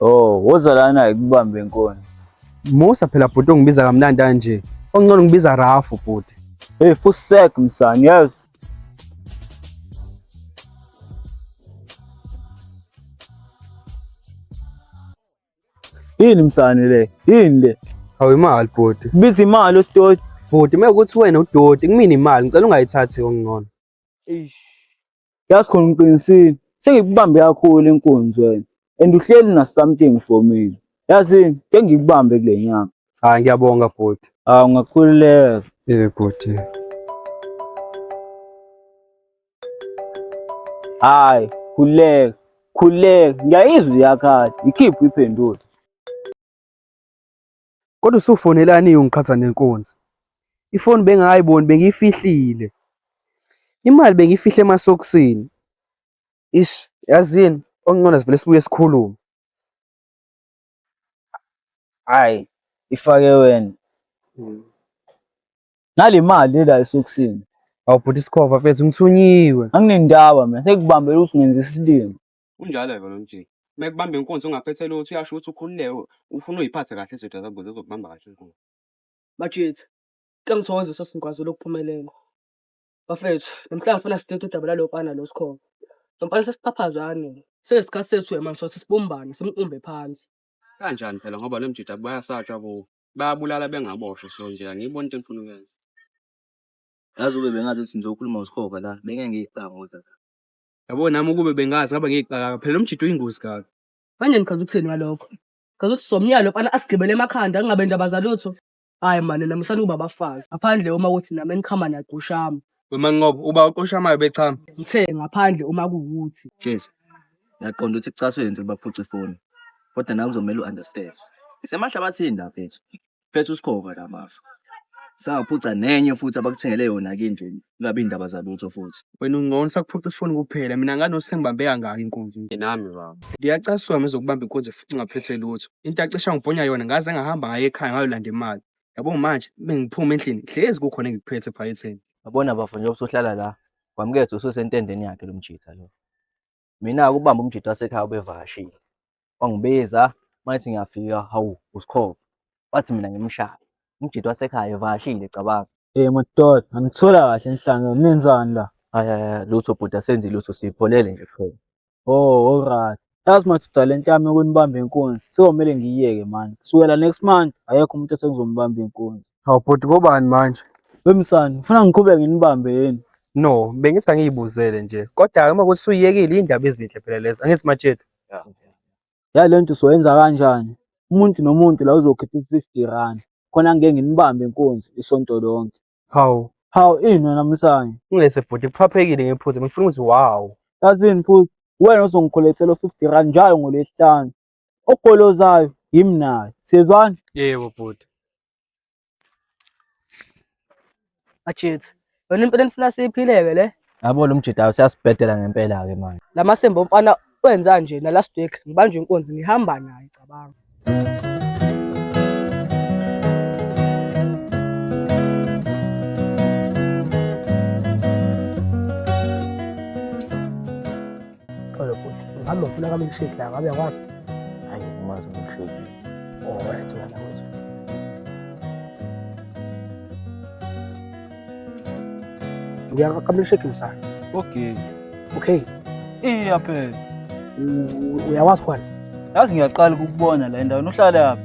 Oh, woza lana ikubambe inkonzo. Musa phela bhuti ongibiza kamnandi kanje. Ongcono ngibiza Rafu bhuti. Hey, fusek msani, yazi. Yini msani le? Yini le? Hawu imali bhuti. Biza imali utoti. Bhuti mekuthi wena udoti kumina imali ngicela ungayithathi ongcono. Eish. Yazi khona ngiqinisile. Sengikubambe kakhulu inkunzi wena. And uhleli na something for me. Yazi ke ngikubambe kule nyanga. Hayi ngiyabonga bhuti. Ah ungakhululeka. Eh bhuti. Hayi, khululeka. Khululeka. Ngiyayizwa iyakhala. Ikhiphe iphendule. Kodwa usufonelani ungiqhatha nenkunzi? Ifoni bengingayiboni bengiyifihlile. Imali bengiyifihle emasokisini. Ish, yazini okungcono sivele sibuye sikhulume. Hayi, ifake wena. Hmm. Nale mali la esokisini. Awubhuti isikhova mfethu ngithunyiwe. Anginendaba mina sekubambela usingenza isilima. Kunjalo-ke lo mjingo. Uma ekubamba inkunzi ungaphethe lutho uyasho ukuthi ukhululeke ufuna uyiphathe kahle izinto zakho ukuze uzokubamba kahle inkunzi. Majethi, kuyangithokozisa singikwaziile ukuphumelela. Bafethu, namhlanje ngifuna sidide udaba lalo mfana lo Sikhova. Lo mfana sesiphaphazane. Seyisikhathi sethu yena manje sokuthi sibumbane simqumbe phansi. Kanjani phela ngoba lo mjita bayasatshwa kuwo. Bayabulala bengaboshwa so nje angiyiboni into engifuna ukuyenza. Yazi ube bengathi ukuthi ngizokhuluma uSikhova la bengeke ngiyicanga ukuthi Yabo nami ukube bengazi ngabe ngiyixaka phela umjito uyingozi kaka. Manje nichaza ukuthini ngalokho? Chaza ukuthi somnyalo fana asigibele emakhanda kungabe ndaba zalutho. Hayi mani nami usani kuba bafazi. Ngaphandle uma ukuthi nami enichama naqushama. Wema Nqobo uba oshamayo bechama. Ngithe ngaphandle uma kuwuthi. Jesu. Ngiyaqonda ukuthi kucaswe into baphuca ifoni. Kodwa nawe kuzomela u-understand. Isemahlabathini lapha ethu. phethe usikhova la mafa sangaphuca nenye futhi abakuthengele yona ke nje kungabi indaba zalutho futhi wena ungcono sakuphuca ifoni kuphela mina nganosi engibambe kangaka inkunzi nje nami baba ngiyacasuka ngizokubamba inkunzi futhi ngaphethe lutho into acisha ngibhonya yona ngaze ngahamba ngaye ekhaya ngayolanda imali yabo manje bengiphuma endlini hlezi kukhona engikuphethe ephaketheni yabona bafo njengoba usuhlala la kwamukethe ususentendeni yakhe lo mjitha lo mina-ke ubamba umjita wasekhaya ubevakashile wangibiza mayethi ngiyafika hawu usikhova wathi mina ngimshaya umjita wasekhaya evakashile cabanga Eh madoda, angithola kahle enhlanga, nenzani la? Hayi hayi hayi, lutho bhuti asenzi lutho sipholele nje kuphela. Oh, alright. Yazi madoda le nto yami yokunibamba inkunzi, sewomele ngiyiyeke manje. Kusukela next month, akekho umuntu esengizombamba inkunzi. Hawu bhuti kobani manje? Wemsani, ufuna ngiqhubeke nginibambe yini? No, bengithi angiyibuzele nje. Kodwa-ke uma kuthi usuyiyekile iy'ndaba ezinhle phela lezo. Angithi Matshetu? Ya le nto uzoyenza kanjani? Umuntu nomuntu la uzokhipha i-fifty rand. Khona ngike nginibambe inkunzi isonto lonke. Hawu, Hawu ini wena Msani? ngilese bhuti kuphaphekile ngephuze. Bengifuna ukuthi wow. Yazini futhi wena ozongikhulethela u-fifty rand njalo ngolwesihlanu. ogolozayo yimi naye siyezwana yebo bhuti ajethi yona impela nifuna siyiphileke le yabo lo mjidayo siyasibhedela ngempela-ke manje la masembe omfana wenza nje na last week ngibanje inkunzi ngihamba naye cabanga Xolo bhuti, ngabe ufuna ka milkshake la ngabe yakwazi? Hayi umazi milkshake. Oh, right, wena wethu. Ngiyaka ka milkshake msana. Okay. Okay. Iya phela. Uyawazi khona? Yazi ngiyaqala ukubona la endaweni uhlala yaphi?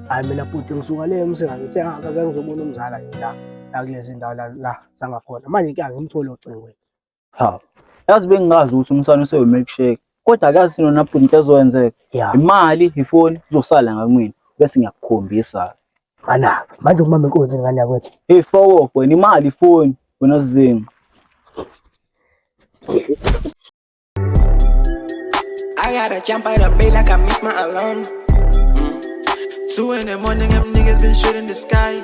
Hayi mina bhuti ngisuka le umsengane ngithe angazange ngizobona umzala nje la la kulezi ndawo la la sangakhona. Manje ke angimtholi ocingweni. ha yazi bengingazi ukuthi umsana usewu milkshake kodwa akazi nona bhuti into ezokwenzeka Yeah. imali ifoni izosala ngakumina bese ngiyakukhombisa Mana, manje umama inkunzi ngane yakwethu. hey foko wena imali ifoni wena zinga I gotta jump out of bed like I missed my alarm. Mm. Two in the morning, them niggas been shooting the sky.